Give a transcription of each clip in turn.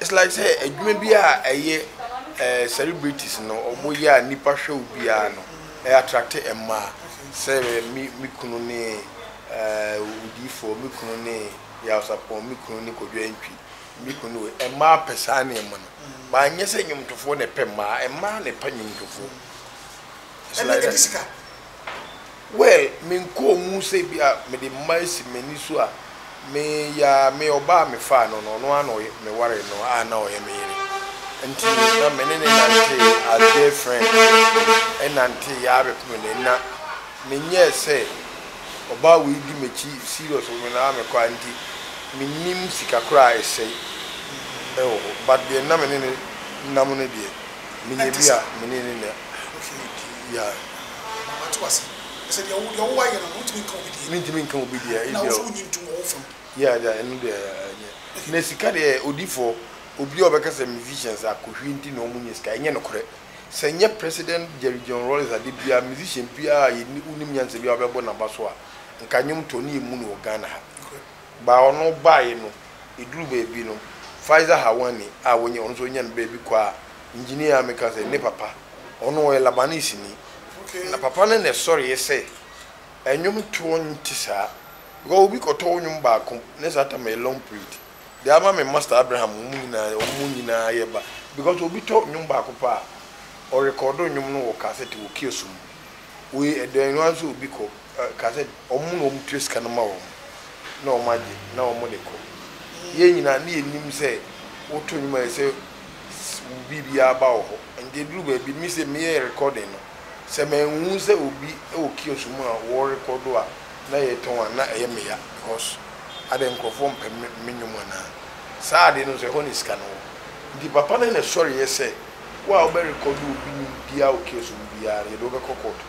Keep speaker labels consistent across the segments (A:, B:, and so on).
A: It's like sɛ adwuma bi a ɛyɛ eh, celebrities no ɔmo yɛ a nipa hwɛ wo biara no ɛ attract mmaa sɛ me me kunu ne eh, odiifoɔ me kunu ne yawsapɔn me kunu ne kwadwo antwi me kunu ne wei mmaa pɛ saa nneɛma no ba nyɛ sɛ nnwomtofoɔ na ɛpɛ mmaa mmaa na ɛpɛ nnwomtofoɔ it's like that. Well me nkɔɔ mu sɛ ebi a mede mma asi m'ani so a me ya a me ɔbaa a me faa no no ɔno ara na me waree no a na ɔyɛ me yere nti na me ne no nantee as girl friend ɛnantee yɛ ara bɛpem nnɛ na me nyɛɛ sɛ ɔbaa wei di m'akyi serious wɔ me na a me kɔ a nti me nnim sika koraa a ɛsɛe ɛwɔ hɔ but deɛ na me ne no nam no deɛ me nya bi a me ne no na. Ahorohwɛ yɛ din. Yeah. Wate wase?
B: Ɛsɛ deɛ wo, deɛ wo wayɛ no no, wontumi nka obi deɛ. Mentumi nka obi deɛ, ɛyɛ deɛ. Ɛna
A: wo nso wonyi ntom wɔ wo
B: fam. Yeah, deɛ, ɛno deɛ,
A: ɛnyɛ. Na sika deɛ, odifoɔ, obi a ɔbɛka sɛ musicians akohwie nti na wɔnnya sika, ɛnyɛ nokorɛ. Sɛ ɛnyɛ President Jerry John Rawlings adeɛ biara, musician biara a yɛni, wonim nyansa biara a ɔbɛbɔ n'abaso a, nka nnwom tɔ no yɛ mmu no wɔ Ghana ha. Nokorɛ. Ba ɔno baeɛ no, ɛduru baabi no, Faiza Hawani a wɔnyi ɔno nso ɔnyaa no berɛ bi kɔ a, engineer a meka sɛ ne papa, ɔno ɔyɛ Labanese ni, na papa no na ɛsɔreeɛ sɛ nnwom toɔ nte saa, because obi kɔtɔ wo nnwom baako ne saa tam ɛyɛ long period, de ama me Master Abraham, wɔn nyinaa, wɔn nyinaa yɛ ba, because obi tɔ nnwom baako pɛ a, ɔrekɔɔdo nnwom no wɔ kasɛte wɔ kiosk mu. Woi ɛdɛn no ara sɛ obi kɔ ka sɛ wɔn na wɔn tua sika no ma wɔn na wɔn agye na wɔn de kɔ. Yɛn nyinaa ne yɛ nim sɛ wo to nnwom a ɛsɛ wo biribiara ba wɔ hɔ. Nti ɛduru baabi me sɛ me yɛ recording no sɛ manhunu sɛ obi wɔ kiosk mu a wɔ rekɔdo a na yɛ tɔn a na ɛyɛ me ya because adɛn nkorɔfoɔ mpɛ me nnwom anaa? Saa adeɛ no nso ɛhɔ na sika no wɔ. Nti papa no na ɛsɔre yɛ sɛ. Wo a wobɛrekɔdo obi no mu biara wɔ case ɔwɔ mu biara no, yɛde wo bɛkɔ court.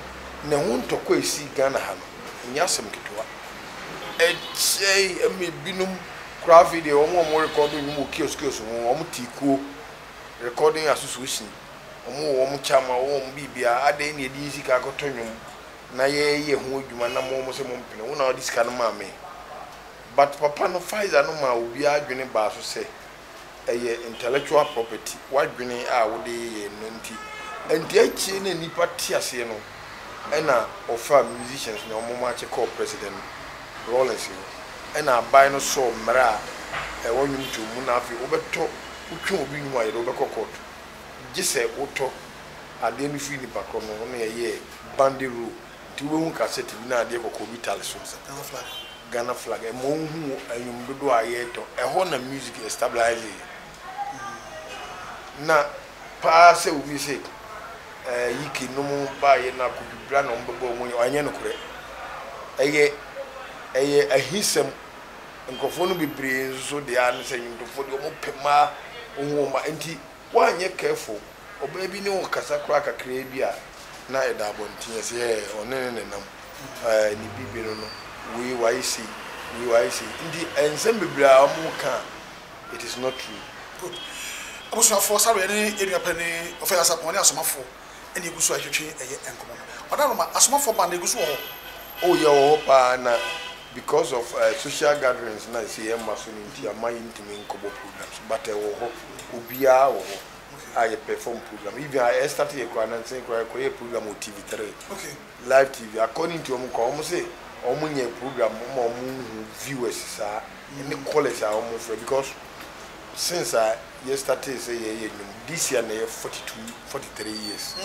A: Na ɛho ntɔkwa a ɛsii Ghana ha no, ɛnyɛ asɛm ketewa. Ɛkyɛe ma ebinom koraa afei deɛ wɔn a wɔrekɔdo nnwom wɔ kiosk kiosk ho no, wɔtee kuo, recording association, wɔwɔ wɔn kyama, wɔwɔ wɔn biribiara, adɛn na yɛde yɛn sika akɔtɔ nnwom na yɛreyɛ ho adwuma nam wɔn sɛ mompene, wo na wode sika no maa me? But papa no, Pfizer no maa obiara adwene baa so sɛ, ɛyɛ intellectual property, w'adwene a wode yɛ no nti. Ɛnti akyire na nnipa te aseɛ no ɛna wɔfaa musicians no wɔn makye kɔɔ President Rawlings hɔ ɛna aban no sɔɔ mmerɛ a ɛwɔ nwomtoɔ mu na afei wobɛtɔ wotwe obi nwom a yɛde wobɛkɔ court gyesɛ wotɔ adeɛ no firi nipa korɔ no ho na yɛyɛɛ Bandy Row Nti woehu kasɛt bi na adeɛ kɔkɔɔ bi tare so. Ɔsɛ Ghana flag, Ghana flag. Ɛma wohu nnwom dodoɔ a yɛretɔ. Ɛhɔ na music yɛ stabilise. Na paa sɛ obi se ɛɛ Yike nom baeɛ na Kodu Bra na wɔbɛbɔ wɔn yɛ, ɛnyɛ nokorɛ. Ɛyɛ ɛyɛ ahisɛm. Nkurɔfoɔ no bebree nso deɛ ara ne sɛ nnwomtofoɔ deɛ wɔpɛ mmaa, wohu wɔn mmaa. Nti. Woanyɛ careful, ɔbaa bi ne wo kasa koraa kakraa bi a, na ɛda abɔnten ase, Hɛɛ, ɔne no na ɛnam, Ɛɛ, ne bibi no no, wei wayɛ sei, wei wayɛ sei. Nti nsɛm bebree a wɔka a, it is not true. Good.
B: Abusuafoɔ, Sareɛ ne Edua Pɛ ne Ɔfɛɛ Asapɔn ne Asomafoɔ. ɛna egu so retwetwe ɛyɛ nkɔmɔ no ɔda no ma asomafo ba no egu so wɔ hɔ. Oh yɛ wɔ hɔ
A: paa na because of eh social gatherings na ɛsɛ yɛ ma so no nti ama yɛ ntumi nkɔ bɔ program so but ɛwɔ hɔ obiara wɔ hɔ a yɛ perform program even a yɛ start yɛ koraa no nse koraa yɛ kɔ yɛɛ program wɔ TV three live
B: TV
A: according to wɔn koraa wɔn se wɔn nyɛ program ma wɔn nhu viewers saa ɛne callers a wɔn frɛ because since a yɛ startee sɛ yɛyɛ nnwom this year na yɛ forty two forty three years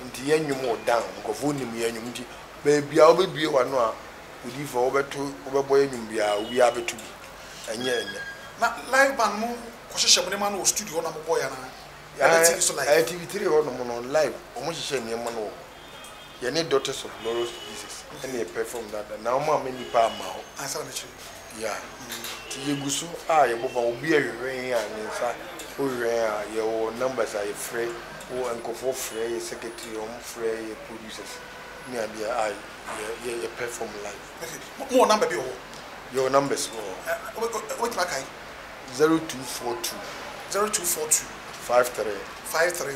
A: nti yɛ nnwom wɔ down nkurɔfoɔ nim yɛ nnwom nti baabiaa wobɛbue w'ano a odiyifoɔ wobɛto wobɛbɔ yɛ nnwom biaa obiaa bɛto bi ɛnyɛ ɛnnɛ. Na
B: live band mo kɔ hyehyɛ mo nneɛma no wɔ studio hɔ na mo bɔ yɛ anaa ɛbɛ TV so live. Ɛɛ
A: TV three hɔ nom no live wɔn hyehyɛ nneɛma no wɔ hɔ. Yɛne Daughters of Glorious to Jesus na yɛpɛfɔm no ada na wɔama nnipa ama hɔ. Ansa na kyerɛ.
B: Yeah. Nti
A: yɛgu so a yɛbɔba obi a hwehwɛ yɛn a ne nsa wohwehwɛ yɛn a yɛwɔ numbers a yɛfrɛ wo nkurɔfoɔ frɛ yɛ secretary wɔn frɛ yɛ producers ne adeɛ a yɛ yɛpɛfɔm live.
B: Mo wɔ number bi wɔ hɔ? Yɛwɔ numbers wɔ hɔ.
A: Wobɛtumi
B: akae? Zero two four two. Zero two
A: four two.
B: Five three.
A: Five three.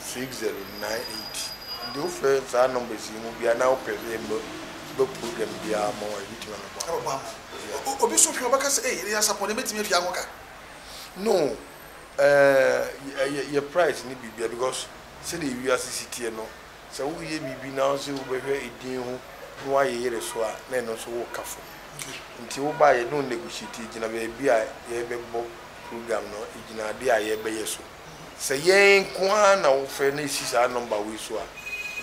A: six zero nine eight nti wofrɛ saa numbers yi mu bia na wopɛ sɛ yɛmma ba program biara ma wo a yɛbɛtumi abɛboa wo. Abɛboa ama
B: wo. Obi nso hwɛ a ɔbɛka sɛ ei ɛyɛ asapɔn deɛ mɛtumi atua ho ka. No,
A: ɛɛ yɛ price ne biribiara because sɛdeɛ wiase si teɛ no sɛ woreyɛ biribi na wosɛ wobɛhwɛ edin ho na woayɛ yere so a na ɛno nso woka fam. Nti wobaa a yɛne wo negotiate gyina baabi a yɛbɛbɔ program no gyina adeɛ a yɛbɛyɛ so. Sɛ yɛn nko ara na wofrɛ na esi saa nɔmba wei so a,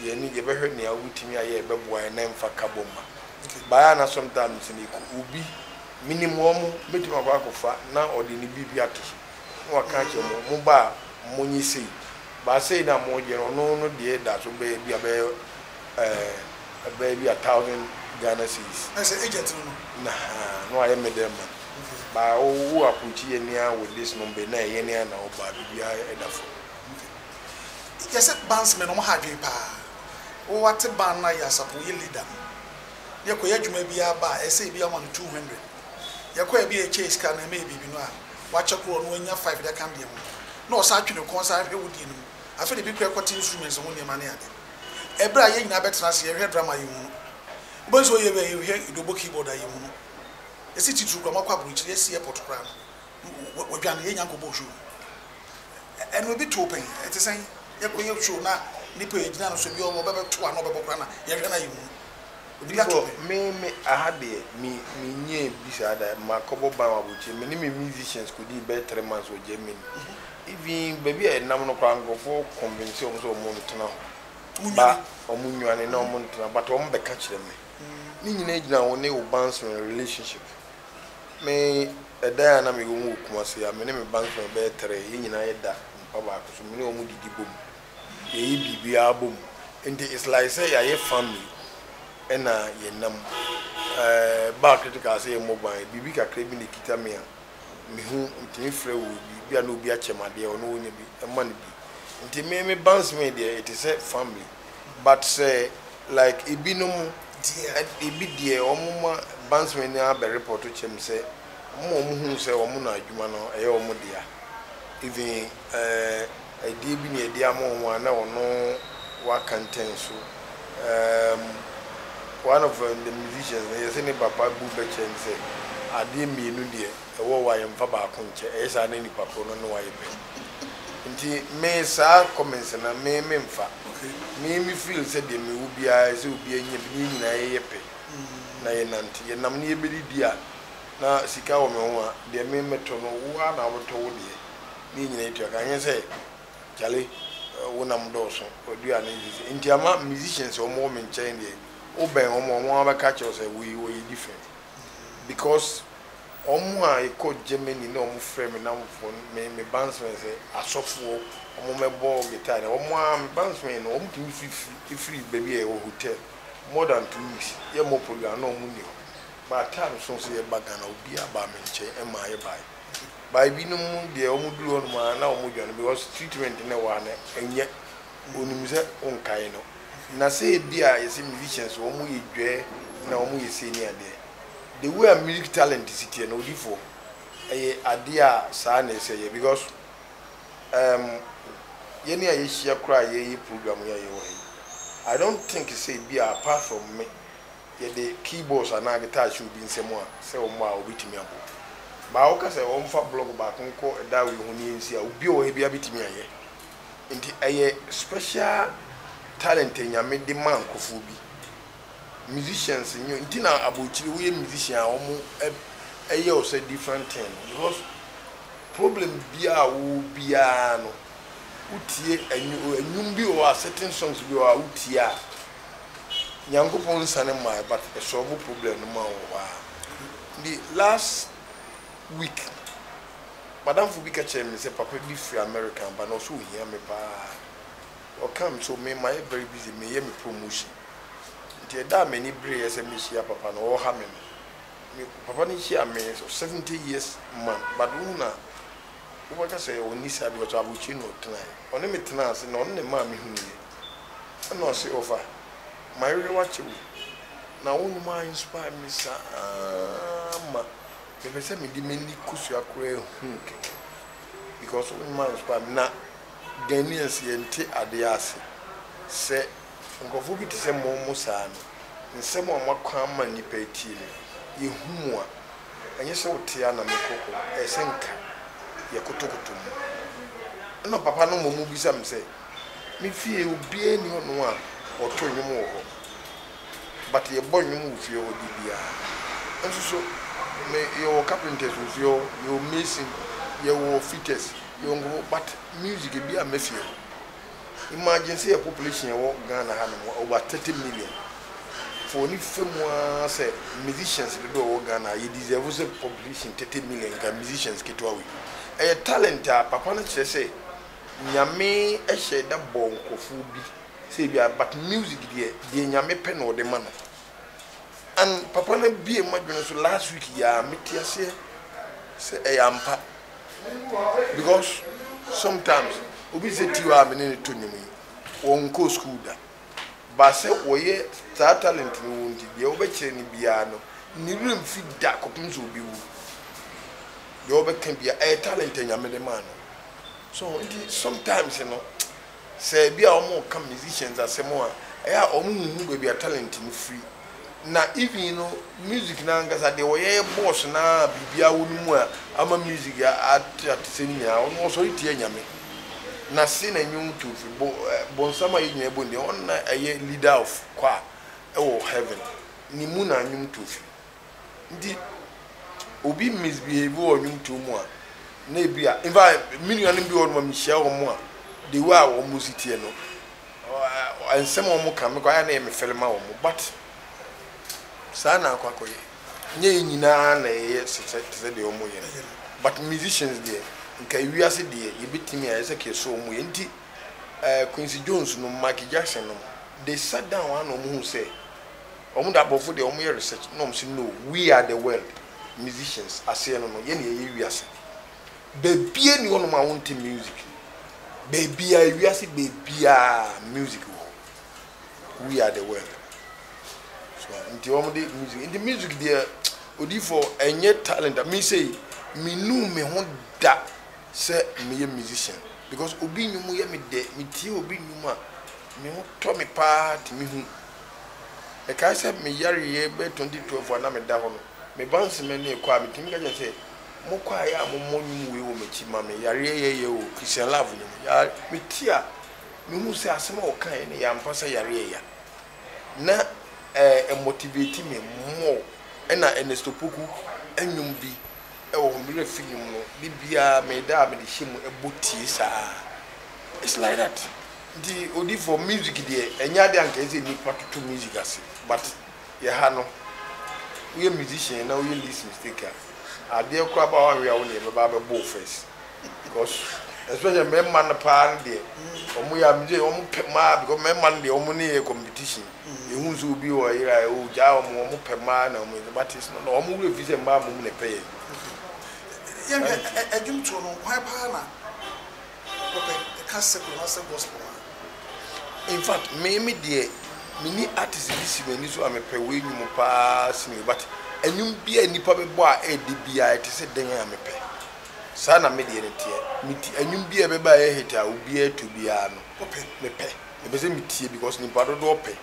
A: yɛn ni, yɛbɛhwɛ nea wubetumi ayɛ a ɛbɛboa yɛn na ɛmfa kabom mma. Bae a na Somta no te no, eko, obi, minim wɔn, betumi akɔ akɔfa na ɔde ne biribi ato so na waka akyerɛ mo, mo ba a, monyɛ sei. Ba sei no a moreyɛ no, ɔno no deɛ da so bɛyɛ bi a bɛyɛ ɛɛ bɛyɛ bi a thousand Ghana cedis. Ɛ sɛ agent no no.
B: Na ha na wayɛ middle
A: man. Okay. Ba wo wo approach yɛ ni ara with this number na ɛyɛ ni ara na wo ba biribiara ɛda fam. Okay.
B: Yɛ sɛ banks mɛ no ɔmo ha adwene paa. Wo ate ban no ayɛ asafo wo yɛ leader no. Na yɛ kɔ yɛ adwuma bi ara ba a ɛsɛ ebi a woma no two hundred. Yɛ kɔ ebi a yɛ kyɛ yɛ sika no ɛmɛ yɛ biribi no a wakyɛ koro ɔno wanya five de aka ne deɛ ho. Na ɔsan twe ne kɔn san hwɛ wo deɛ no mu. Afei na ebi koraa ɛkɔ te instruments ho nneɛma ne ade. Ɛberɛ a yɛn nyinaa bɛtena ase yɛhwɛ drama yi mu no, wobɛhu sɛ ɔyɛ wei a yɛhwɛ Idobo keyboard a yɛ mu no, ɛsi titiriw koraa, moakɔ aburokyire, yɛasi airport koraa no, wɔdwane yɛn nya nkɔbɔɔ show no. Ɛno ebi too pɛn, ɛte sɛn? Yɛkɔyɛ show na nnipa a yɛgyina no so ebi ɔbɛbɛto a na ɔbɛbɔ koraa na yɛhwɛ no a yɛ mu no. Before
A: me me aha deɛ me me nnya bi saa da, makɔbɔ ban wɔ abrokyire, me ne me musicians kɔdii bɛyɛ three months wɔ Germany, even baabi a yɛnam no koraa nkorɔfoɔ convince wɔn sɛ wɔn ntena hɔ, ba wɔn nnwane na wɔn ntena but wɔn bɛka kyerɛ me, ne nyinaa gyina wo ne wo bandsman relationship, me ɛdan a na mewɔ mu wɔ Kumasi a me ne me bandsman bɛyɛ three, yɛn nyinaa yɛda mpa baako so, me ne wɔn didi bɔ mu. yɛyɛ biribiara bɔ mu nti it's like sɛ yɛayɛ family ɛna yɛnam ɛɛ baa critical sɛ yɛmmɔ ban biribi kakra bi na ɛkita me a mehu metumi frɛ wɔ bi bi a na obi akyɛm adeɛ ɔno wɔnya bi ɛma no bi nti me me bans me deɛ ɛte sɛ family but sɛ like ebinom ebi deɛ wɔn ma bans me no abɛ report kyɛm sɛ wɔn a wɔn hu sɛ wɔn na adwuma no ɛyɛ wɔn dea even ɛɛ. Ɛdeɛ bi na Yɛ'de ama wɔn a na wɔ'ne wo aka ntɛn so. Um, one of um, the musicians no, yɛse ne papa bu bɛ kyerɛ no sɛ, Adeɛ mmienu deɛ ɛwɔ hɔ a yɛ'mfa baako nkyɛ, ɛyɛ saa a na nipa korɔ no ne wo ayɛ pɛ. Nti me saa comments no me menfa. Me me feel sɛ deɛ mewɔ biara ɛsɛ obiara nya bi, ne yɛn nyinaa yɛyɛ pɛ na yɛnante. Yɛnam ne yɛbɛdidi a na sika wɔ me ho a, deɛ me mɛtɔ no wo ara na wobɛtɔ wo deɛ. ne yɛn nyinaa tua ka. Ɛnyɛ sɛ Charlie wo nam dɔɔso wadua ne nsisi nti ama musicians a wɔwɔ me nkyɛn deɛ wobɛn wɔn a wɔn ara bɛka akyerɛ wo sɛ wei ɔyɛ different because wɔn a yɛkɔ Germany na wɔfrɛ me nnamfofoɔ no me me bandsmen sɛ asɔfoɔ wɔmmɛbɔ guitar na wɔn ara me bandsmen no wɔtumi firi firi baabi a yɛwɔ hotel more than two weeks yɛmmɔ program na wɔn nni hɔ but time so nso yɛba Ghana obiara baa me nkyɛn ɛmaa yɛbaeɛ. By binom deɛ wɔn duru hɔnom a na wɔn dwane because treatment na ɛwɔ ha no ɛnyɛ onim sɛ wo nkae no na sɛ ebi a yɛsɛ musicians wɔn yɛ dwɛɛ na wɔn yɛ sei ne adeɛ the way a music talent si teɛ no odifoɔ ɛyɛ adeɛ a saa na ɛsɛ yɛ because um, yɛne a yɛhyia koraa a yɛyɛ program yi a yɛwɔ ha yi I don't think sɛ ebi a apart from me. Yɛde keyboards anaa guitar hyɛ obi nsam a, sɛ ɔmmɔ a, obetumi abɔ. Baa a woka sɛ wɔmfa blɔg baako nkɔ Darwin ho no yɛ nsi a, obi a ɔwɔ ha biara betumi ayɛ. Enti ɛyɛ special talent a Nyame de ma nkurɔfoɔ bi. Musicians nyɛ nti na abrokyire woyɛ musician a wɔyɛ wo sɛ different thing no because problem biara a wowɔ biara no wotie ɛnwo ɛnwom bi wɔ hɔ a certain songs bi wɔ hɔ a wotie a, Nyankopɔn nsane mmaeɛ but ɛsɔlvo problem no maa wɔ hɔ ara nti last week madamfo bi ka kyerɛɛ me sɛ papa bi firi America aba na ɔsɛ ɔhia me paa ɔ come so me mayɛ very busy meyɛ me promotion nti ɛda a m'ani bereeɛ sɛ mɛhyia papa no ɔha me no me papa no hyia me so 70 years man but wohu na wobɛka sɛ ɔnni saa because abokyire na ɔtenaeɛ ɔne me tenaa ase na ɔno na ɛmaa mehuniiɛ Nna ɔse, Ɔfa, mayere wo akyɛ wo, na wo nnwuma inspire me saa ma mepɛ sɛ mede m'ani kosua koraa hu wo kɛkɛ because wo nnwuma inspire me. Na Ghanaians yɛnte adeɛ ase sɛ nkurɔfoɔ bi te sɛ mo mo saa no, nsɛm a moakɔ ama nnipa atie no, yɛhu mo a, ɛnyɛ sɛ wote a na mekɔ kɔ, ɛyɛ sɛ nka yɛkotokoto mo. Nna papa no mmom bisa me sɛ, Me fie obiaa nni hɔ nom a wɔto nnwom wɔ hɔ but yɛbɔ nnwom wɔ fie hɔ da biaa. Nso so me yɛwɔ carpenters wɔ fie hɔ, yɛwɔ mason, yɛwɔ fitters, yɛwɔ nkurɔfoɔ but music ebiaa mma fie hɔ. Imagine sɛ yɛ population yɛwɔ Ghana ha nom over 30 million foɔ ne fɛ mu aa sɛ musicians dodoɔ ɛwɔ Ghana a yɛ deserve sɛ population 30 million nka musicians ketewa wei ɛyɛ talent a papa no kyerɛ sɛ Nyame hyɛ da bɔ nkorɔfoɔ bi sɛ ebia but music deɛ deɛ Nyame pɛ na ɔde ma no and papa no abue m'adwene nso last week yi ara mete aseɛ sɛ ɛyɛ ampa because sometimes obi sɛ Tio a me ne no to nnwom yi wɔnkɔɔ school da but sɛ wɔyɛ saa talent no wɔ nti deɛ wobɛkyerɛ no biara no ne werɛ mfi da kɔpem sɛ ɔbɛwu deɛ wobɛka biara ɛyɛ talent a Nyame de maa no So nti sometimes no sɛ ebi a wɔn ka musicians asɛm a ɛyɛ a wɔn nhu baabi a talent no firi na even no music no ankasa deɛ wɔyɛ yɛ bɔs no ara biribiara wɔ no mu a ama music ate atesɛm nyinaa ɔno ɔsɔre tia nyame na se na nwom to firi bo bonsam a yɛ nyinaa bɔ no deɛ ɔno na ɛyɛ leader of choir ɛwɔ heaven ne mu na nwom to firi. Nti obi misbehave wɔ nnwontoɔ mu a, na ebi a, in fact, me nuanom bi wɔ hɔnom a mehyia wɔn a, the way a wɔn si teɛ no, ɔ- nsɛm a wɔn ka no, mekɔ ayɛ na ɛyɛ me fɛre ma wɔn. But saa na akɔ akɔyɛ. Nyɛ yɛn nyinaa na yɛyɛ se- sɛ- te sɛ deɛ wɔn yɛ no. Ɛyɛ no. But musicians deɛ, nka ewiase deɛ, yɛbɛtumi ayɛ sɛ kɛse wɔn yɛ. Nti eh, Quincy Jones nom, Michael Jackson nom, they sat down a na wɔhuu sɛ, Ɔmo de abrɔfo deɛ ɔmo yɛ research na ɔmo se no we are the world musicians aseɛ no no yɛ na yɛyɛ wiase baabiaa ni hɔ nom a wonte music baabiaa ewiase baabiaa music wɔ hɔ we are the world so nti ɔmo de music nti music deɛ odiyifoɔ ɛnyɛ talent a me sei me nuu me ho da sɛ me yɛ musician because obi nnwom yɛ me dɛ me tie obi nnwom a me ho tɔ me paa te me hu Mekae sɛ me yareɛ bɛyɛ twenty twelve a na meda hɔ no, me ba Nsimah nie kɔ a, metumi ka kyerɛ no sɛ, mo kwaeɛ a momɔ nnwom wei wɔ m'akyi ma me, yareɛ yɛyɛ o, Christian Love no mu. Ya metie a, mehu sɛ asɛm a ɔkaeɛ no yɛ ampa sɛ yareɛ ya. Na ɛ ɛmotivate me more ɛna Ernest Opoku nnwom bi wɔ wɔn werɛ fi no mu no, da biara me da a mede hyɛ mu bɔ tie saa. It's like that. Nti odifoɔ, music deɛ, ɛnyɛ adeɛ a anka ɛsɛ nnipa toto music ase, but yɛ ha no, woyɛ musician na woyɛ least mistake a, adeɛ koraa ba a woanwea wo na yɛbɛba abɛbɔ wo first. Because especially mmarima no paa no deɛ, wɔn yɛ a, me se wɔn pɛ mmaa because mmarima no deɛ wɔn ne yɛ competition. Yehu nso obi a ɔyere a ogyaa wɔn, wɔpɛ mmaa na wɔn mma te sene na wɔn werɛ fi sɛ mmaa mmom na ɛpɛ yɛn. Yɛnhwɛ
B: dwomtoɔ no, hwan paa na wɔpɛ? Ɛka secular anaasɛ gospel ho a?
A: In fact, me me deɛ, menni artist bi si m'ani so a mepɛ wei nnwom paa sene wei but nnwom biara a nnipa bɛbɔ a ɛyɛ dɛ biara a ɛte sɛ dɛn a mepɛ. Saa na me deɛ no teɛ. Me ti, nnwom biara a ɛbɛba a ɛyɛ hit a obiara to biara no, mepɛ. Mepɛ sɛ mitie because nnipa dodoɔ pɛ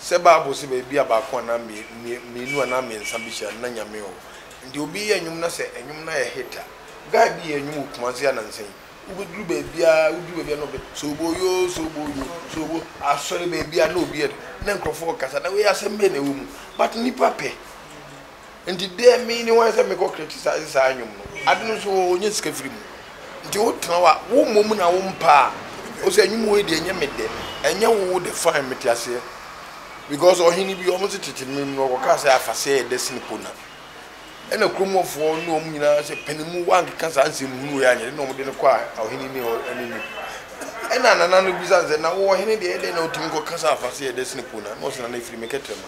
A: sɛ bible se baabi a baako anaa mmienu anaa mmiɛnsa behyia no na Nyame wɔ hɔ. Nti obi yɛ nnwom na sɛ nnwom no ayɛ hit a, guy bi yɛɛ nnwom wɔ Kumasi anansa yi, wobɛduru baabiara woduru baabiara na ɔbɛ sobo yo sobo yo sobo asɔre baabiara na obi yɛ na nkurɔfoɔ rekasa na wei asɛm bɛn na ɛwɔ mu but nnipa pɛ. Nti dɛ me ne hwan sɛ mekɔ criticise saa nwom no. Ade no so ɔnya sika firi mu. Nti wo tena hɔ a wo mmɔ mu na wo mpa a ɔsɛ nwom wei deɛ ɛnyɛ me dɛ. Ɛnyɛ wo wo dɛ fine mete aseɛ. Because ɔhene bi wɔn se tete mmerɛ mu no ɔkɔkaa sɛ afaseɛ yɛ dɛ sene pona. Ɛna kurom hɔ foɔ ne wɔn nyinaa sɛ pene mu wankeka saa nsɛm hunu wei anyɛ dɛ na wɔn de no kɔɔ ɔhene ne anim. Ɛna nana no bisa no sɛ na wo ɔhene deɛ ɛdɛn na wotumi kɔka sɛ afaseɛ yɛ dɛ sene pona. Na ɔse nana ɛfiri me kɛtrɛma.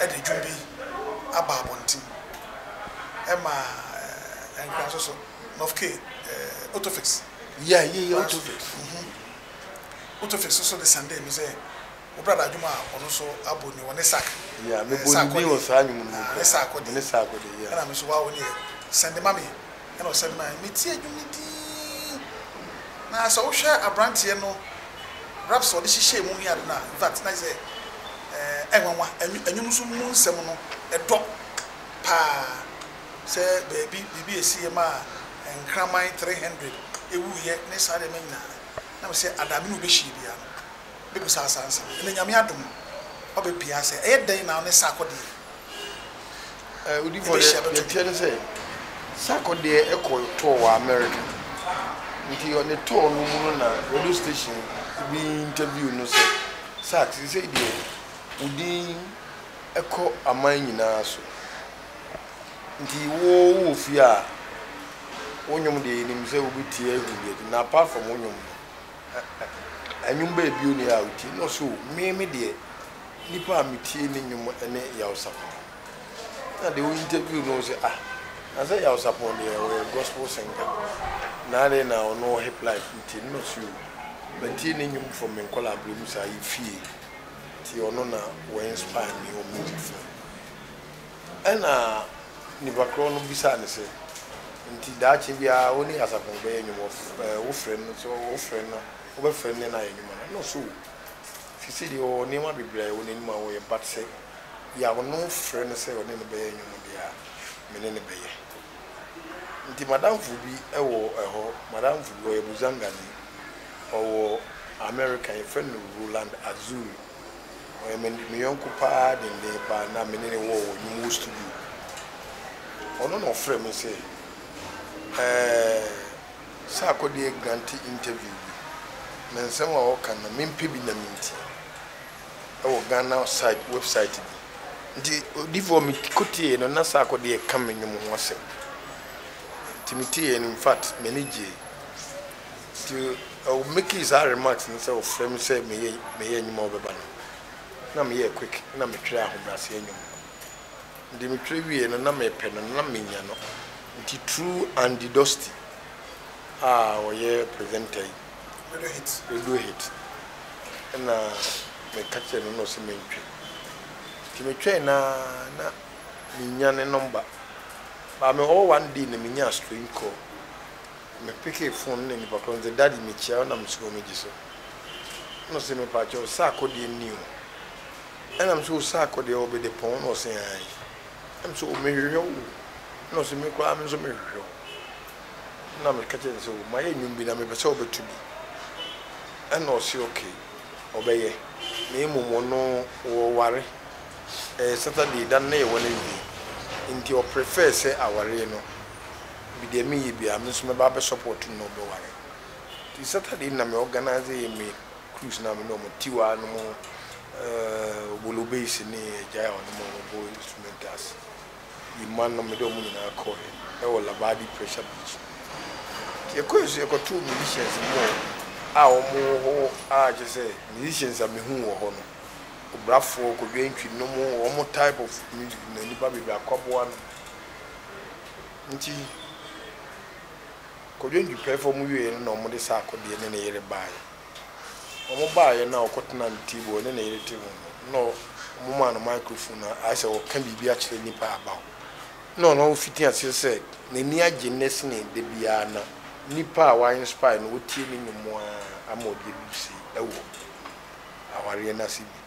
B: de dwom bi aba abɔnten ma nkra nso so Nov K. Otofix. Yeah, yeah,
A: yeah, Otofix. Mm-hmm.
B: Otofix nso de Sunday no sɛ wobra da adwom a ɔno nso abɔ ni wɔ ne sak. Yeah, mebɔ ne
A: din wɔ saa nwom no mu. Ne sak ɔde. Ne
B: sak ɔde, yeah. Ɛna me nso
A: wa wo ne yɛ
B: Sunday mami. Ɛna ɔsan mu a, metie nnwom no dinn. Na sɛ wohwɛ aberanteɛ no raps a ɔde hyehyɛɛ mu ne ade no a, in fact na kyerɛ sɛ ɛɛ nwanwa. Nnwom nso mu nsɛm no ɛdɔ paa. Sɛ baabi biribi a ɛsiiɛ maa nkraman three hundred wuiɛ ne saa nneɛma nyinaa no, na mesɛ Adaame na wɔbɛhyiiɛ biara no, begu saa asaase no. Ndɛ Nyame adom ɔbɛpie ayɛ sɛ ɛyɛ dɛn na ɔne Sarkodie
A: Odifo deɛ deɛ ɛteɛ ne sɛ Sarkodie kɔ tour wɔ America nti ɔne tour no mu no na radio station bi interview no sɛ Sark sesei deɛ wo din kɔ aman nyinaa so nti wo wowɔ fie a wo nwom deɛ yɛnim sɛ wobɛtie ahu bi na apart from wo nwom no Nnwom bɛyɛ bio ne a wotie? Na ɔse o, me me deɛ nipa a metie ne nnwom ne Yaw Sapɔn. Na deɛ o interview no ɔse ah, nasɛ Yaw Sapɔn deɛ ɔyɛ gospel singer, na adɛn na ɔno wɔ hiplife wotie no? Na ɔse o, matie ne nnwom from me nkɔlaa berɛ mu saa yɛ fie, nti ɔno na wɔ inspire me wɔ music side. Ɛnna nnipa korɔ no bisaa no sɛ, Enti daakye biara wo ne asafo no bɛyɛ nnwuma? Wofrɛ no sɛ wofrɛ no a, wobɛfrɛ no nnɛ na ayɛ nnwuma no? Ɛnna ɔsɛ oo, ɛfiri sɛ deɛ ɔwɔ nneɛma bebree a ɛwɔ n'anim a ɔyɛ, but sɛ deɛ a ɔno frɛ no sɛ ɔne no bɛyɛ nnwom deɛ a, me ne no bɛyɛ. Enti m'adamfo bi wɔ hɔ, m'adamfo bi, ɔyɛ Buzangani, ɔwɔ Amerika, yɛfrɛ no Roland Azul. Ɔyɛ me me yɔnko paa denden paa na me ne no wɔ wɔ Nwumuu studio. Ɔno na ɔfrɛɛ me sɛ ɛɛ sɛ akɔdeɛ grante interview bi na nsɛm a ɔka na mempɛ bi na menti ɛwɔ Ghana site website bi nti odifoɔ me kɔtieɛ no na sɛ akɔdeɛ ka me nwom ho asɛm nti me tieɛ no infact m'ani gyee Ntsi ɔwo mekii saa remarks no sɛ ɔfrɛ me sɛ meyɛ meyɛ nwom a ɔbɛba no na meyɛɛ quick na metwerɛ ahobrɛaseɛ nwom no. Nde metwerɛ wieɛ no na mepɛ no na mennya no nti through Andy Dosty a ɔyɛ presenter yi, Radio Hit, Radio Hit na meka kyerɛɛ no na ɔse mentwe. Nti metwɛe no ara na mennya ne number but mewɔ hɔ one day na menyaa strange call. Me pekee fon no na nipa korɔ no se daddy mekyia wo na me suro megye so na ɔse mepakyɛ wo saako deɛ nni ho ɛna mese wo saako deɛ wɔ bede pɔn na ɔse aane na mese o mehwehwɛ wo o na ɔse me koraa menso mehwehwɛ wo na meka kyerɛ no sɛ o mayɛ nwom bi na mepɛ sɛ ɔbɛto bi ɛna ɔse okay ɔbɛyɛ na mmom ɔno wɔware ɛyɛ Saturday da no na yɛwɔ no awie nti ɔprefɛɛ sɛ awaree no bi deɛ me yɛ biaa me nso mɛba abɛ support no na ɔbɛ ware nti Saturday no na me organise me cruise no a me ne ɔmo Tiwa nom eh Obolo Base ne Agyae ɔnom ɔmo bɔ instrumentals Yima nom me de ɔmo nyinaa kɔɔɛ ɛwɔ Labadi Pressure Beach nti yɛ kɔɔɛ so yɛ kɔ too musicians bi wɔ a ɔmo wɔ hɔ a kyɛ sɛ musicians a me hu wɔ hɔ no Obrafoɔ, Kodwo Antwi nom ɔmo type of music na nipa bebree Akwaboa nom Enti, kɔdwe dwupɛfoɔ mu wieeɛ no na wɔde Sarkodie ne ne yere baeɛ. Wɔbaeɛ no a wɔkɔtenaa ne table a ɔne ne yere te ho no, na wɔmaa no microphone a ayɛ sɛ ɔreka biribi akyerɛ nnipa a aba hɔ. Na ɔno ɔfiti aseɛ sɛ n'ani agye nnɛ sene da biara na nnipa a wa inspire no wɔtie ne nnwom ara ama ɔde abu sei wɔ awareɛ no ase bi.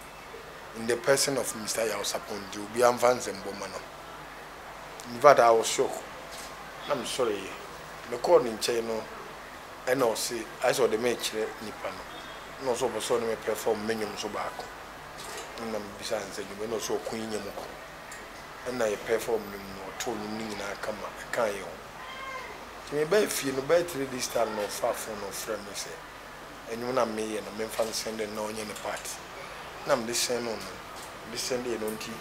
A: in the person of Mister Yaw Sapon nti obiara nfa nsɛmbɔ mma no in fact I was shock na me sɔre yɛ me kɔɔ ne nkyɛn no ɛna ɔse ayɛ sɛ ɔde me kyerɛ nipa no ɛna ɔse ɔpɛ sɛ ɔne me pɛfɔm me nwom so baako ɛna me bisaa no sɛ nwom ɛna ɔse ɔko yi nyɛ mu ko ɛna yɛ pɛfɔm nwom no ɔtoo nwom no nyinaa kama ɛkaa yɛ ho nti me baa fie no bɛɛ three days time na ɔfaa phone na ɔfrɛ me sɛ. ndwom no a meyɛ no memfa nhyɛn dɛ nna ɔnyɛ ne part na mede hyɛn no no mede hyɛn de yɛ no ntsi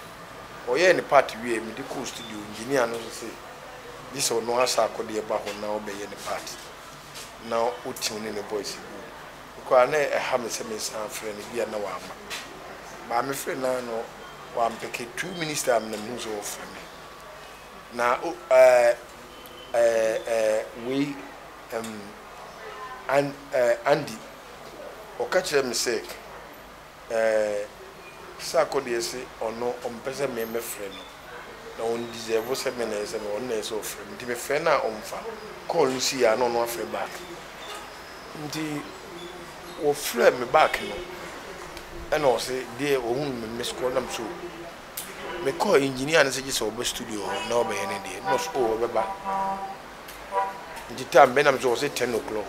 A: ɔyɛɛ ne part wiei mede kɔɔ studio engineer no so se gyesɛ ɔno ahyɛ akɔde ɛba hɔ na ɔbɛyɛ ne part na ɔtune ne ne voice good mekɔaa na ɛha me sɛ mesan afrɛ no bia na wamma baa mefrɛ no a na wampeke two minutes time na mehu sɛ ɔfrɛ me na ɛɛ ɛɛ ɛɛ wei. Ɛm, An, ɛɛ, Andy, wɔka kyerɛɛ me sɛ, ɛɛ, Saako deɛ se ɔno ɔmpɛ sɛ me mɛfrɛ no, na ɔnndisɛɛvo sɛ me na ɛsɛ me, ɔno na ɛsɛ sɛ ɔfrɛ me. Nti mefrɛ no a ɔmmfa kɔɔl no sii a na ɔno afrɛ back. Nti wɔfrɛɛ me back no, ɛna ɔse deɛ ɔhunu me missed call, nam so mekɔɔ engineer no sɛ gye sɛ ɔba studio hɔ na ɔbɛyɛ ne deɛ, na ɔse oh ɔbɛba. Ntsi time bɛn na mese ɔse ten o'clock.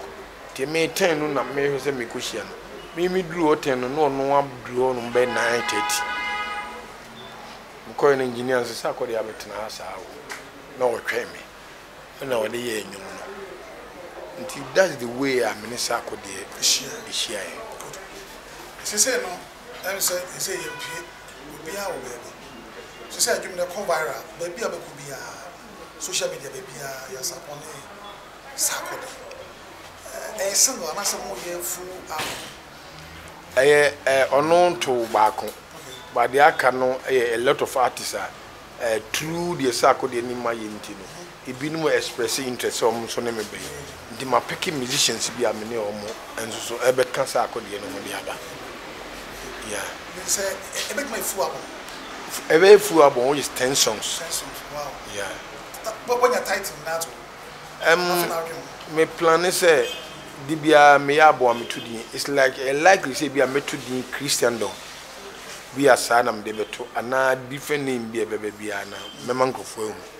A: Ntsi emi ten no na mehwɛ sɛ mekohyia no. Me medur hɔ ten no na ɔno adur hɔnom bɛyɛ nine thirty. Mokɔe no engineer no se sɛ akɔ deɛ abɛtsena ha saa o, na ɔtwɛn me na ɔde yɛɛ nwom no. Ntsi that's the way a me ne sɛ akɔ deɛ ehyiae. Sesei no ɛne
B: sɛ sesei yɛmpue obiara wɔ baabi sesei adwom no ɛkɔ viral baabi a wobɛkɔ biara. social media baabiara yɛ asakɔ ne sakɔ de ɛyɛ sɛ mo anaasɛ mo yɛ full album? Ɛyɛ ɔno ntow baako but deɛ aka no yɛ a lot of artists a through deɛ sakɔ deɛ anim ayɛ nti no ebinom express interest sɛ wɔn nso ne me bɛyɛ. Nti mapeke musicians bi a me ne wɔn nso so bɛka saa akodeɛ no ho de aba. Yeah. Mede sɛ ɛbɛtumi
A: ayɛ full album. Ɛbɛyɛ full album which is ten songs. Ten songs, wow.
B: Yeah.
A: Wanya
B: title nyinaa ato hɔ? Um, Afei na adwene ho.
A: Me plan ne sɛ de biara meyɛ abɔ a meto din. It's like ɛyɛ likely sɛ bi a mɛto din Christendom bi a saa na mede bɛto anaa different name bi a ɛbɛba biara na mɛma nkurɔfoɔ ahu.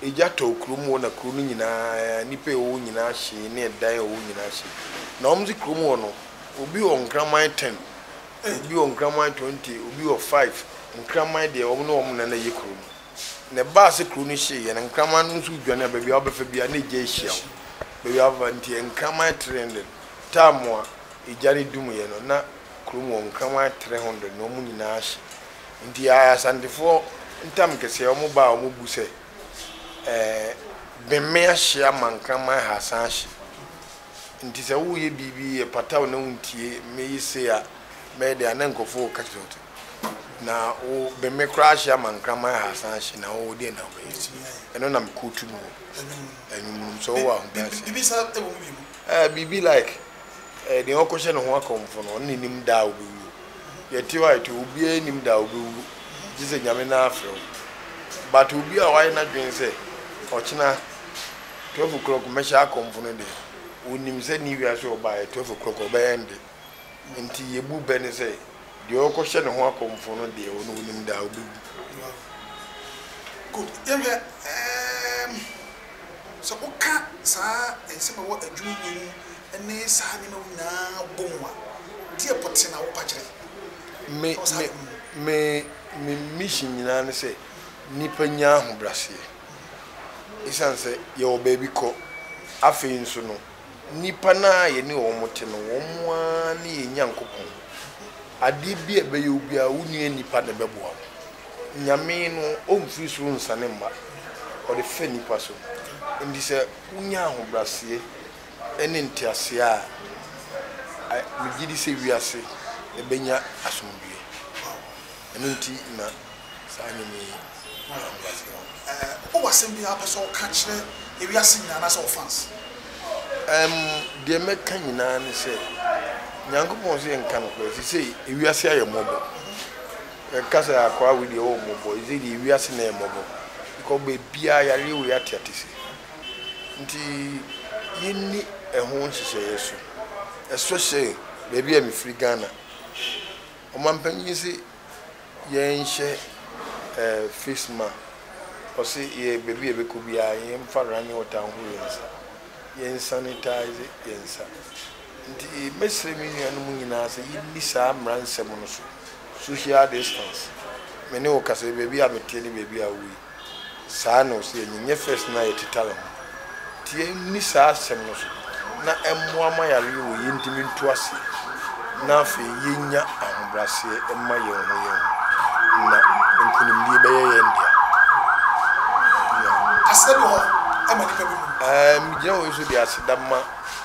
A: Egya tɔɔ kurom hɔ na kuro no nyinaa nipa ɛwɔ hɔ nyinaa hyee ne ɛdan ɛwɔ hɔ nyinaa hyee. Na wɔn se kurom hɔ no obi wɔ nkraman ten, obi wɔ nkraman twenty, obi wɔ five, nkraman deɛ wɔn ne wɔn na na ɛyɛ kuro no. Na ɛbaa se kuro no hyee yɛ na nkraman no nso dwane a baabi a wobɛfa biara na egya ahyia wo. Baabi a wobɛfa nti nkraman three hundred. Time a egya no dum yɛ no na kurom hɔ nkraman three hundred na wɔn nyinaa hye. Nti a Asantefoɔ ntam kɛseɛ wɔn ba a wɔn bu sɛ ɛɛ Bemme ahye ama nkraman ha asan ahye nti sɛ wo yɛ biribi ɛpata wo na wo ntie me yi se a bɛyɛ dɛ a na nkurɔfoɔ reka kyerɛ wo te na wo Bemme koraa ahye ama nkraman ha asan ahye na wo deɛ na wo bɛyɛ nti ɛno na me kootu no wɔ ɛnwom no mu sɛ wo wɔ ahobrɛaseɛ. Biribi sa ɛwɔ mu bi mu. Ɛɛ biribi like. Nea ɔkɔhyɛ ne ho akɔmfo no, ɔno na enim da a obewuo. Yɛte hɔ a yɛte hɔ, obiara nnim da a obewuo, gye sɛ Nyame no afrɛ wo. But obi a wayɛ n'adwene sɛ ɔkyena twelve o'clock mɛhyɛ akɔmfo no deɛ, onim sɛ ne wiase a ɔbaeɛ twelve o'clock ɔbɛ ende. Nti yebu bɛ no sɛ, deɛ ɔkɔhyɛ ne ho akɔmfo no deɛ, ɔno onim da a obewu. Wow.
B: Good. Yɛnhwɛ, um, sɛ woka saa nsɛm a ɛwɔ adwuma mu yi ho ne saa nneɛma wo nyinaa bɔ mu a, deɛ pɔtee na wopa kyerɛ Me, wɔ saa me, adom no mu. me, me mission nyinaa ne sɛ nnipa nya ahobraseɛ. Esiane sɛ yɛwɔ baabi kɔ, afei nso no, nnipa no a yɛne wɔn te no, wɔn ara ne yɛn Nyankopɔn. Adeɛ bi a ɛbɛyɛ wo biara, wo nua nnipa na ɛbɛboa wo. Nyame no, ɔmfiri soro nsiane mma, ɔde fa nnipa so. Enti sɛ wonya ahobraseɛ. ne nteaseɛ a, a megye di sɛ wiase bɛnya asomdwoeɛ. Ɛno nti na saa nnwom yi baa wiase hɔ. Ɛɛ, wowɔ asɛm bi a wopɛ sɛ woka kyerɛ ewiase nyinaa anaasɛ wo fans? Ɛm,
A: deɛ mɛka nyinaa ne sɛ, Nyankopɔn se yɛnka nokorɛ. Seesei, ewiase ayɛ mmɔbɔ. Yɛka sɛ akwaa wei deɛ ɔwɔ mmɔbɔ. Seesei deɛ, ewiase na ɛyɛ mmɔbɔ. Because baabiara yareɛ wei ateatese. Nti yɛnni ɛho nhyehyɛeɛ so especially baabi a mefiri Ghana. Ɔmanpanin se yɛnhyɛ face ma ɔse yɛ baabi a yɛbɛkɔ biara yɛmfa running water nhohoro yɛn nsa, yɛn sanitize yɛn nsa. Nti mɛsrɛ me nuanom nyinaa sɛ yɛnni saa mmara nsɛm no so, social distance. Me ne wo kasa yi baabi a meteɛ ne baabi a wowɔ yi. Saa na ɔse yɛ nyenyɛ first na yɛ titale ho nti yɛ nni saa asɛm no so na ɛmmoa ma yareɛ wɔ yɛ ntimi ntu aseɛ na afei yɛ nya ahobraseɛ mma yɛn ho yɛn ho na nkunimdie bɛyɛ yɛn dea.
B: Aseɛ bi wɔ hɔ a ɛma nipa bi hu. Aah me gyina wei so de aseda
A: ma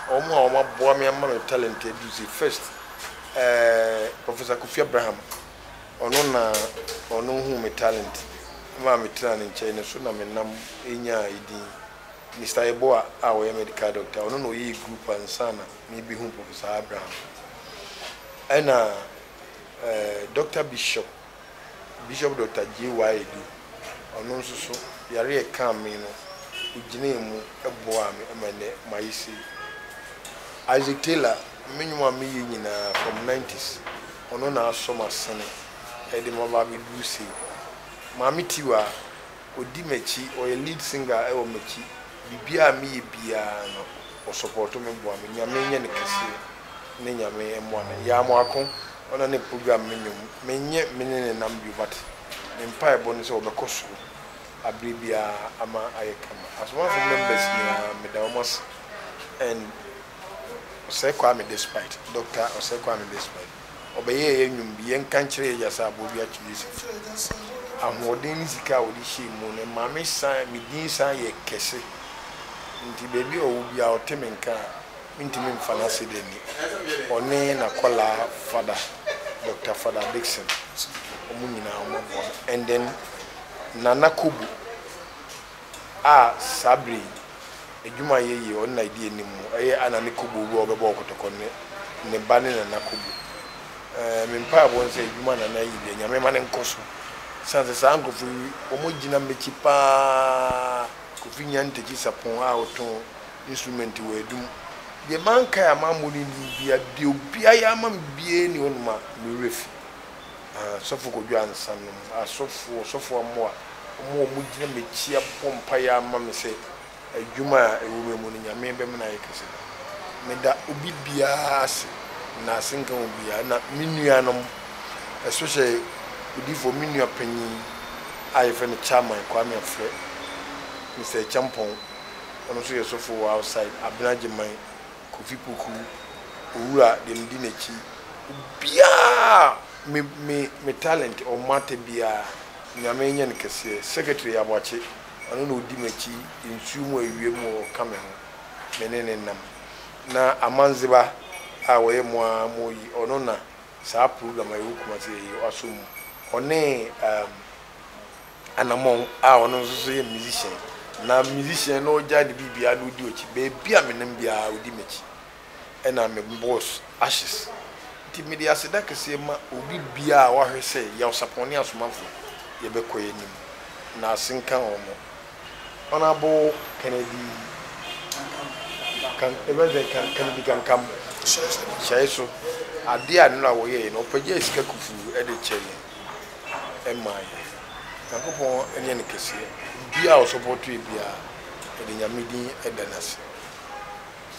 A: wɔn a wɔn aboa me ama me talent aduru se first eh Professor Kofi Abraham Ɔno na Ɔno huu me talent maa me traa ne nkyɛn, ne so na me nam nyaa edin. Mister Yeboah a ɔyɛ medical doctor, ɔno na ɔyɛɛ group ansa na me behuu Professor Abraham. Ɛna eh, Doctor Bishop, Bishop Doctor JY Adu, ɔno nso so, yare a ɛkaa me no, ɔgyinaa mu boaa me ma nnɛ mayɛ sei. Isaac Taylor, me nnwom a meyɛ nyinaa from nineties, Ɔno na asɔ m'asene ɛde ma ba abɛduru sei. Maame Tiwa, ɔdi m'akyi, ɔyɛ lead singer wɔ m'akyi. Biribiara a meyɛ biara no, ɔsɔpɔɔto me, boa me. Nyame nyɛ no kɛseɛ ne Nyame mmoa no. Yaa Moako, ɔna ne program me nnwom. Menyɛ me ne ne nam bio but me mpaebɔ ne sɛ ɔbɛkɔ soro aberɛ biara ama ayɛ kama. Asomafo members nyinaa meda wɔn ase and. Osei Kwame Despite, Dɔkta Osei Kwame Despite, ɔbɛyɛɛ yɛn nnwom bi, yɛnka nkyerɛ yɛn agya sɛ aboɔ bi akye ne sika. Ahoɔden ne sika a ɔde hyɛɛ mu no ma me san, me din san yɛ kɛse. Nti baabi a ɔwɔ biara ɔte me nka a, mentumi mfa no ase da ni. Ɔne n'akwadaa Fada, Dɔkta Fada Dickson, wɔn nyinaa wɔn aboa me. And then Nana Kobu. a saa bere yi adwumayɛ yi a ɔno na edi anim mu yɛ Anna ne Kobo bi a ɔbɛbɔ wɔ Kotoko ne ne ba ne Nana Kobo. Ɛɛ, me mpaebɔ ne sɛ adwuma a Nana ayi deɛ, Nyame mma no nkɔ so. Esiane sɛ saa nkurɔfo yi, wɔgyina m'akyi pa ara, Kofi Nyan Ntakyi Sapon a ɔtɔn instrument wɔ Adum. Deɛ mankae a mammɔ no din biara, deɛ obiara yɛ ama me biara nni hɔnom a me werɛ fi. Asɔfo kɔdwaa nsa nom. Asɔfo, ɔsɔfo Amoa, wɔn a wɔgyina m'akyi abɔ mpaeɛ ama me sɛ adwuma a ɛwɔ me mu no, Nyame bɛma no ayɛ kɛse no, meda obi biara ase. Na asenka wɔn biara. Na me nuanom, especially odiyifoɔ, me nua panin a yɛfrɛ no Chairman Kwame Afrɛ, Mister Acheampong, ɔno nso yɛ sɔfo wɔ outside, Abena Agyeman, Kofi Poku, Owura deɛ medi n'akyi, obiara me me me talent ɔmmata biara Nyame nyɛ no kɛseɛ, Secretary Aboakye ɔno na odi m'akyi nsuo mu awia mu ɔka me ho me ne no nam na Amandzeba a ɔyɛ mo ara mo yi ɔno na saa program a ɛwɔ Kumasi yɛyɛ asɔ mu ɔne ehm Anamɔn a ɔno nso so yɛ musician na musician na ɔgyae ne biribiara na ɔdi ɔkyi baabi a menam biara ɔdi makyi ɛna me boss Ashes nti mede aseda kɛseɛ ma obi biara a wahwɛ sɛ Yaosapɔn ne Asomafo yɛbɛkɔ yɛ anim na ase nka wɔn Honourable Kennedy Kan ɛbɛn sɛ Kan Kennedy Kankam hyɛe so adeɛ a nnora wɔyɛɛ no ɔpagyae sika kufuu ɛde kyɛɛ yɛn. ɛmaa yɛn. Nyankopɔn nyɛ no kɛseɛ. Biribiaa ɔsɔpɔtoɛ biaa ɔde Nyame din da no ase.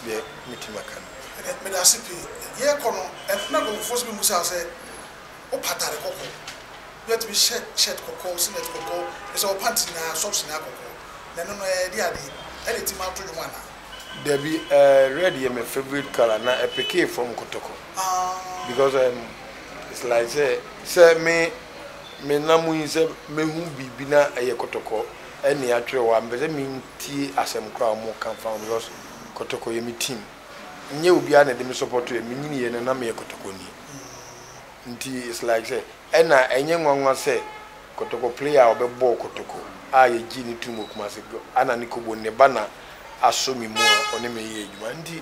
A: Deɛ mɛtumi aka no nie. Ɛnɛ medase
B: pii. Yɛɛkɔ no na nkorɔfoɔ nso bɛbusaa sɛ wopa atade kɔkɔɔ? Bi atumi hyɛ shirt kɔkɔɔ, singlet kɔkɔɔ, ne sɛ wo pants nyinaa, socks nyinaa kɔkɔɔ. Na ɛno no ɛɛde adeɛ? Ɛde tim ato dwom anaa? Dabi, ɛɛ
A: red yɛ me favorite colour na ɛpekee fam kɔtɔkɔ. because um it's like sɛ sɛ me me nam mu yi sɛ mehu biribi na ɛyɛ kɔtɔkɔ ɛne atwerɛ hɔ a mpɛ sɛ mentie asɛm koraa a wɔn ka fa ho because kɔtɔkɔ yɛ me team nyɛ obiara na ɛde me support yɛ menyini yɛ no na meyɛ kɔtɔkɔni nti it's like sɛ ɛna ɛnyɛ nwanwa sɛ kɔtɔkɔ player a ɔbɛbɔɔ kɔtɔkɔ a yɛgye ne tum wɔ Kumase ana ne kɔbɔ ne ba na asɔ me mu a ɔne me yɛ adwuma nti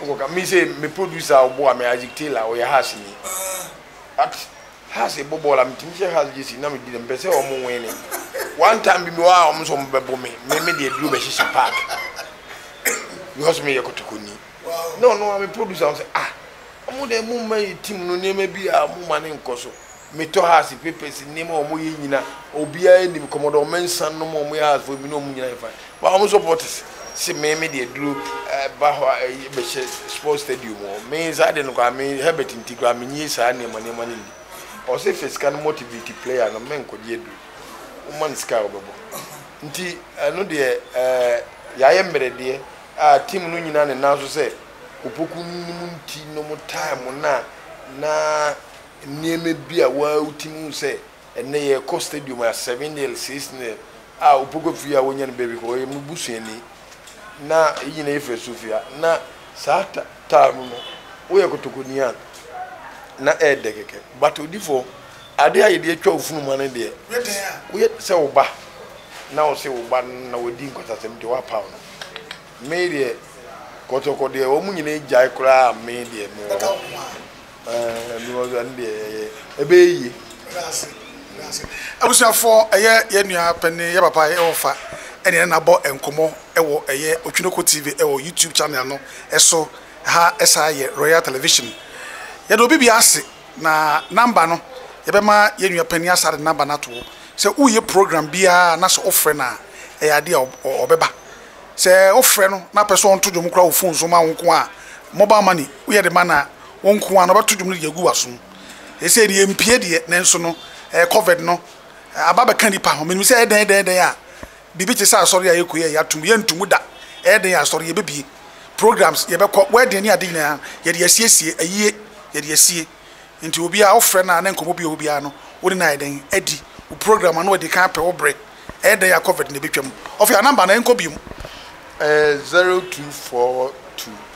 A: Wokɔ ka me sei me producer a ɔboa me Isaac Taylor ɔyɛ Hearts ni but Hearts ɛbɔ bɔɔl a metumi hyɛ Hearts gyesi na medi dɛm mepɛ sɛ ɔmo wene one time bi mewɔ a ɔmo nso ɔmo bɛbo me me me deɛ duro bɛhyehyɛ park because meyɛ kɔtɔkɔni na ɔno ara me producer ɔsɛ ah ɔmo deɛ mo mma yɛ team no nneɛma bi a ɔmo ma no nkɔ so. Me tɔ hass papers nnim a ɔmo yɛ nyina obiaa nim kɔmɔdɔ ɔmo nsa nom a ɔmo yɛ hass foɔ mene ɔmo nyina yɛ fine but ɔmo supporters se me me deɛ duro ba hɔ a ɛyɛ bɛhyɛ sport stadium hɔ me saa deɛ no koraa me Herbert nti koraa me nnie saa nneɛma nneɛma no nni ɔse fɛ sika no motivate player no me nkɔ gye aduro wo ma no sika a ɔbɛbɔ nti ɛno deɛ ɛɛ yɛayɛ mmerɛ deɛ a team no nyina ne nan so sɛ opoku no mu nti nom time no a na. Nneɛma bi a wo ara wutumi hu sɛ ɛnnɛ yɛkɔ stadium a seven nil, six nil a opoku fie a wonya no baabi kɔ, ɔyɛ me busuani na eyi nyinaa yɛ firi Sofia na saa taa no no woyɛ kotokoni a na ɛyɛ dɛ kɛkɛ but odifo ade a yɛde atwa wo funuma no deɛ woyɛ sɛ wo ba na wo se wo ba no na wadi nkwatasɛm nti woapaw no me deɛ kɔtɔkɔ deɛ wɔn nyinaa gyae koraa me deɛ mewɔ hɔ.
B: Abusuafoɔ, ɛyɛ yɛn nua panin, yɛn papa, yɛn ɔfa ɛne yɛn abɔ nkɔmmɔ wɔ ɛyɛ Otwinoko TV wɔ YouTube channel no so. Ɛha ɛsan yɛ Royal Television. Yɛda obi biara ase na number no yɛbɛma yɛn nua panin asan de number no ato hɔ. Sɛ woyɛ program biara na sɛ wofrɛ no a, ɛyɛ adeɛ a ɔbɛba. Sɛ wofrɛ no na wopɛ sɛ ɔnto dwom koraa wɔ phone so ma wo nko a, mobile money woyɛ de ma no a. Wo nko ara na wɔbɛto dwom no de agu w'asom. Seesei deɛ ɛmpue deɛ, nanso no, ɛɛ, Covid no, aba abɛka nnipa ho. Menim sɛ ɛyɛ dɛn, ɛyɛ dɛn, ɛyɛ dɛn a, biribi te sɛ asɔre a yɛkɔ yi a yɛato mu, yɛnto mu da. Ɛyɛ dɛn a, asɔre yɛbɛbue, programs yɛbɛkɔ, wedding ne ade nyinaa, yɛde asiesie, ayie, yɛde asie. Enti obiara a wofrɛ no a na nkɔmmɔ bi wɔ hɔ biara no, wo ne no ayɛ dɛn adi? Wo program ano adi kan apɛ wo berɛ. Ɛyɛ dɛn a, Covid no, ɛbɛtwam. Ɔfɛ a, number no, ɛnkɔ bio. Ɛɛ, zero two
A: four two.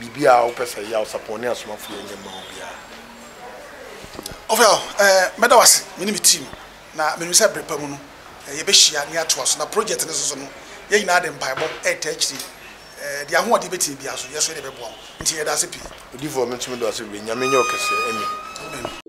A: Biribi a wopɛ sɛ ɛyɛ a, Ɔsapɔn ne asomafo yɛ nyɛ mma wo biara. Tia. Ɔfrɛ hɔ,
B: Ɛɛ, mɛda wo ase, me ne me team, na minim sɛ bere pa mu no, yɛbɛhyia na yɛatoa so. Na projɛt no nso so no, yɛn nyinaa de mpaebɔ retaa akyiri. Ɛɛ, deɛ ahoɔden bɛtumi biara nso, yɛn nso yɛde bɛboa wo. Enti yɛda ase pii. Odiyifoɔ, Me nso meda wo ase
A: bebree. Nyame nyɛ wo kɛseɛ. Amen. Amen.